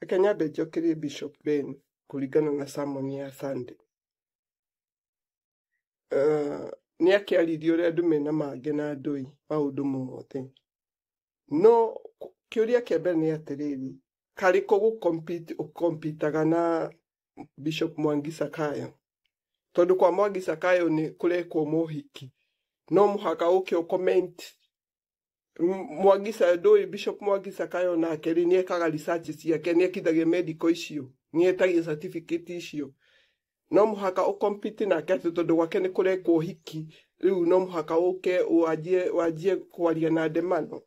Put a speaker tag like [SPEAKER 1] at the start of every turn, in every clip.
[SPEAKER 1] Reke nyambe njokĩrie Bishop Ben kũringana na sermon ya Sunday. Uh, nĩ akĩaririe ũrĩa andũ mena mangĩ na ndũi maũndũ mothe no kĩũria kĩa mbere nĩ atĩrĩrĩ karĩ kũ gũkompitaga na bishop mwangi sakayo tondũ kwa mwangi sakayo nĩ kũrekwo mohiki no mũhaka ũke ũcomment mwagisa ndũĩ bishop mwagisa kayo nake rĩ nĩ ekaga research ciake nĩ ekithagia medical icio nĩ etagia certificate icio no mũhaka ũkompiti nake atĩ tondũ gwake nĩ kũrekwo ũhiki rĩu no mũhaka ũke wanjie wanjie kwaria na ndemano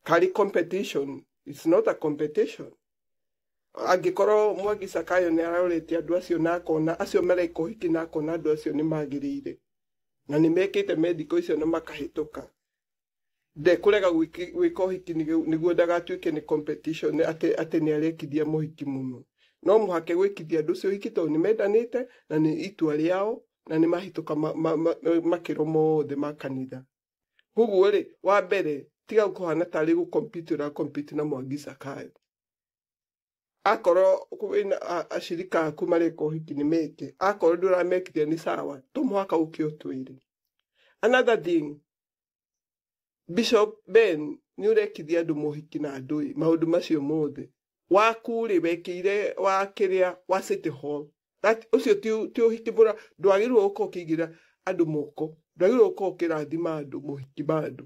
[SPEAKER 1] karĩ competition it's not a competition angĩkorwo mwagisa kayo nĩ arorete andũ acio na akona acio mareka ũhiki na akona andũ acio nĩ magĩrĩire na nĩ mekĩte mendiko icio na makahĩtũka ndekũrega gwĩki- gwĩka ũhiki nĩgu- nĩguo ndagatuĩke nĩ competition atĩ atĩ nĩ arekithia mũhiki mũno no mũhake gwĩkithia andũ ũcio ũhiki tondũ nĩ mendanĩte na nĩ itua rĩao na nĩ mahĩtũka ma- ma- ma- makĩro mothe ma kanitha koguo rĩ wa mbere tiga kũhana tarĩ gũkompiti ũrakompiti na mwangi cakayo akorwo wĩna a- acirika aku mareka ũhiki nĩ meke akorwo ndũramekithia nĩ sawa to mũhaka ũke ũtwĩre another thing bishop ben nĩ ũrekithia andũ mohiki na ndũĩ maũndũ macio mothe waku rĩ wekĩire wa kĩrĩa wa city hall That- ũcio ti ũ- ti ũhiki mũra ndwagĩrĩirwo gũkorwo ũkĩigĩra andũ moko ndwagĩrĩirwo gũkorwo ũkĩrathima andũ mohiki ma andũ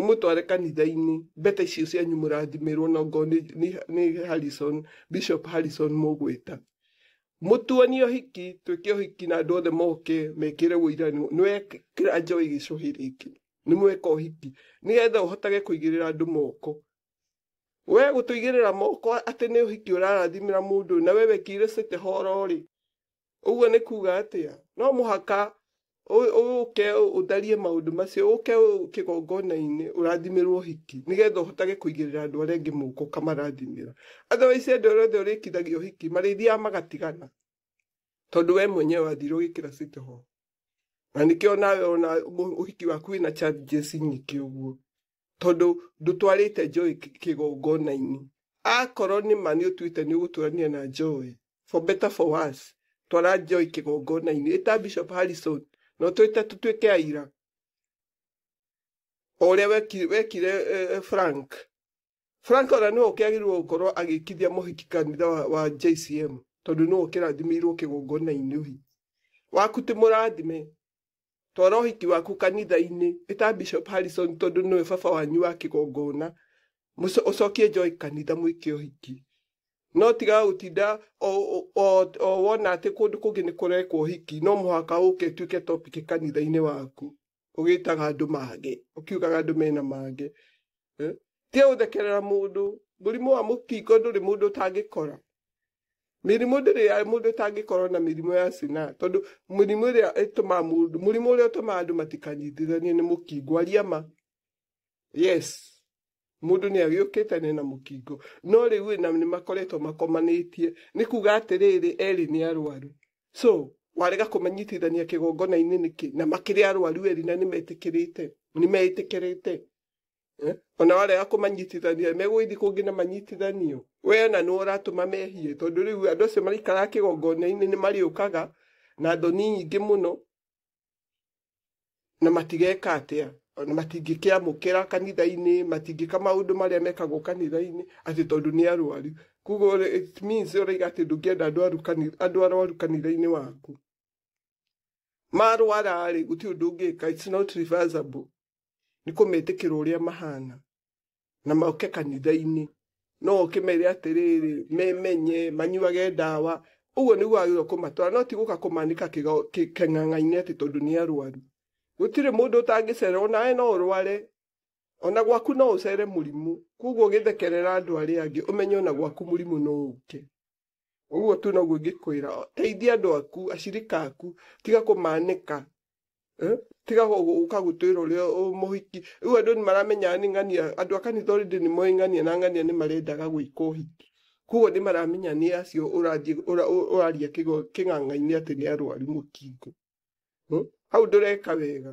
[SPEAKER 1] ũmũtware kanitha-inĩ mbete icio cianyu mũrathimĩrwo na ngoo nĩ, nĩ, nĩ Harrison, Bishop Harrison mũgwĩta mũtuonie ũhiki twĩke ũhiki na andũ othe moke mekĩre ũira nĩ nĩ wekĩra njoĩ gĩcũhĩ rĩngĩ nĩ mweka ũhiki nĩgetha ũhotage kũigĩrĩra andũ moko we gũtũigĩrĩra moko atĩ nĩ ũhiki ũrarathimĩra mũndũ na we wekĩire cete horo rĩ ũguo nĩ kuga atĩa no mũhaka ũ- ũke ũtharie maũndũ macio ũke ũ- kĩgongona-inĩ ũrathimĩrwo ũhiki nĩgetha ũhotage kũigĩrĩra andũ arĩa angĩ mũko ũkamarathimĩra otherwise andũ arĩa othe ũrĩkithagia ũhiki marĩthiaga magatigana tondũ we mwenyewe wathire ũgĩkĩra citoho na nĩkĩo nawe ona mũ- ũhiki waku wĩna challenges nyingĩ ũguo tondũ ndũtwarĩte njoĩ kĩ- kĩgongona-inĩ akorwo nĩ ma nĩ ũtuĩte nĩ ũgũtũrania na njoĩ for better for worse twara njoĩ kĩgongona-inĩ ĩta bishop harrison na ũtwĩte tũtuĩke aira o ũrĩa wekire, wekire eh, frank frank ona nĩwe ũkĩagĩrĩirwo gũkorwo agĩkithia mũhiki kanitha wa, wa jcm tondũ nĩwe ũkĩrathimĩirwo kĩgongona-inĩ ũhiki waku ti mũrathime Twara ũhiki waku kanitha-inĩ, ĩta Bishop Harrison tondũ nĩwe baba wanyu wa kĩgongona, mũco- ũcokie njoĩ kanitha mwĩke ũhiki. No tiga gũtinda o- o- o- o wona atĩ kũndũ kũngĩ nĩ kũrekwo ũhiki, no mũhaka ũke ĩtuĩke topic kanitha-inĩ waku, ũgĩtaga andũ mage, ũkiugaga andũ mena mage. Eh? Tiga gũthekerera mũndũ, mũrimũ wa mũkingo ndũrĩ mũndũ ũtangĩkora. mĩrimũ ndĩrĩ ya mũndũ ĩtangĩkorwo na mĩrimũ ya cina tondũ mĩrimũ ĩrĩa ĩtũmaga mũndũ mũrimũ ũrĩa ũtũmaga andũ matikanyitithanie nĩ mũkingo aria ma yes mũndũ nĩ agĩũkĩte nĩ na mũkingo no rĩu ĩ, na nĩ makoretwo makomanĩtie nĩ kuga atĩrĩrĩ erĩ nĩ arwaru so warega kũmanyitithania kĩgongona-inĩ nĩkĩ na makĩrĩ arwaru erĩ na nĩ metĩkĩrĩte nĩ meĩtĩkĩrĩte Eh? ona warega kũmanyitithania megũgĩthiĩ kũngĩ na manyitithanio we na nĩ ũratũma mehie tondũ rĩu andũ acio maraikaraga kĩgongona-inĩ nĩ marĩũkaga na thoni nyingĩ mũno na matigeka atĩa ona matingĩkĩamũkĩra kanitha-inĩ matingĩka maũndũ marĩa mekagwo kanitha-inĩ atĩ tondũ nĩ arwaru koguo rĩ, it means ũraiga atĩ ndũngĩenda andũ aru kani- andũ arwaru kanitha-inĩ waku marwara-rĩ gũtirĩ ũndũ ũngĩka it's not reversible nĩ kũmetĩkĩra ũrĩa mahana na moke kanitha-inĩ no oke mere atĩrĩrĩ memenye manyuage ndawa ũguo nĩguo agĩrĩirwo kũmatwara no ti gũka kũmanĩka kĩgo- kĩ- kĩng'ang'a-inĩ atĩ tondũ nĩ arwaru gũtirĩ mũndũ ũtangĩcera onawe no ũrware ona gwaku no ũcere mũrimũ koguo ũgĩthekerera andũ arĩa angĩ ũmenye ona gwaku mũrimũ no ũke Ũguo tu noguo ingĩkwĩra. Teithia andũ aku, acirika aku. Tiga kũmanĩka. Eh? Tiga gũ- gũ- gũka gũtwĩra ũrĩa ũ- mũhiki. Rĩu andũ nĩ maramenyaga nĩ ng'ania. Andũ a kanitha already nĩ moĩ ng'ania na ng'ania nĩ marendaga gwĩka ũhiki. Koguo nĩ maramenya nĩ acio ũrathiĩ ũra- ũ- ũraria kĩgo- kĩng'ang'a-inĩ atĩ nĩ arwaru mũkingo. Hmm? Hau ndũreka wega.